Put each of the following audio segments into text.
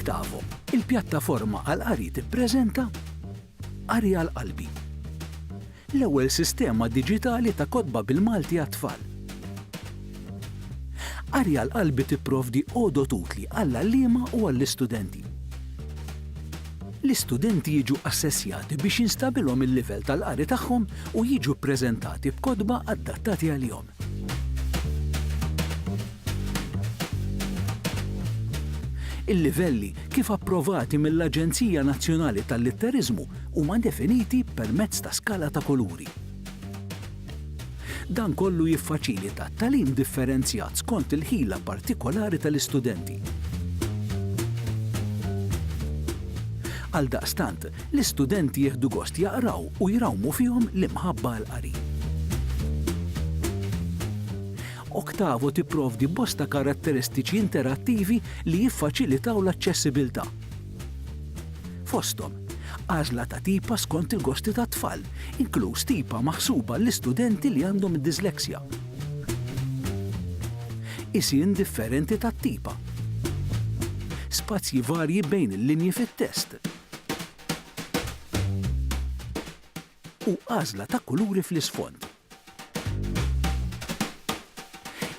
Octavo, il-pjattaforma għall-qari tippreżenta Qari għal Qalbi, l-ewwel sistema diġitali ta' kotba bil-Malti għat-tfal. Qari għal Qalbi tipprovdi għodod utli għall-għalliema u għall-istudenti. L-istudenti jiġu assessjati biex jinstabilhom il-livell tal-qari tagħhom u jiġu ppreżentati b'kotba adattati għalihom. Il-livelli kif approvati mill-Aġenzija Nazzjonali tal-Litteriżmu huma definiti permezz ta' skala ta' kuluri. Dan kollu jiffaċilita tagħlim differenzjat skont il-ħila partikolari tal-istudenti. Għaldaqstant, L-istudenti jieħdu gost jaqraw u jrawmu fihom l-imħabba għall-qari. Octavo tipprovdi bosta karatteristiċi interattivi li jiffaċilitaw l-aċċessibilità. Fosthom, għażla ta' tipa skont il-gosti tat-tfal, inkluż tipa maħsuba għall-istudenti li għandhom id-dislexja. Qisien differenti tat-tipa. Spazji varji bejn il-linji fit-test. u għażla ta' kuluri fl-isfond.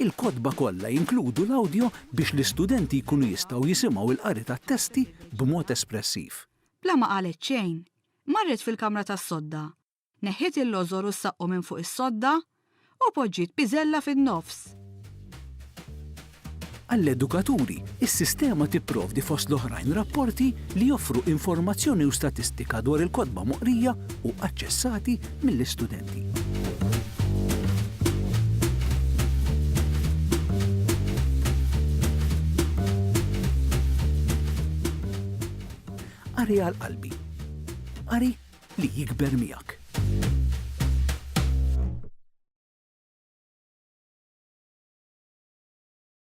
Il-kotba kollha jinkludu l-awdjo biex l-istudenti jkunu jistgħu jisimgħu l-qari tat-testi b'mod espressiv. Bla ma qalet xejn, marret fil-kamra tas-sodda Neħħiet il-lożor u s-saqqu minn fuq is-sodda u poġġiet piżella fin-nofs. Għall-edukaturi, is-sistema tipprovdi fost l-oħrajn rapporti li joffru informazzjoni u statistika dwar il-kotba moqrija u aċċessati mill-istudenti. Qari għal qalbi. Qari li jikber miegħek.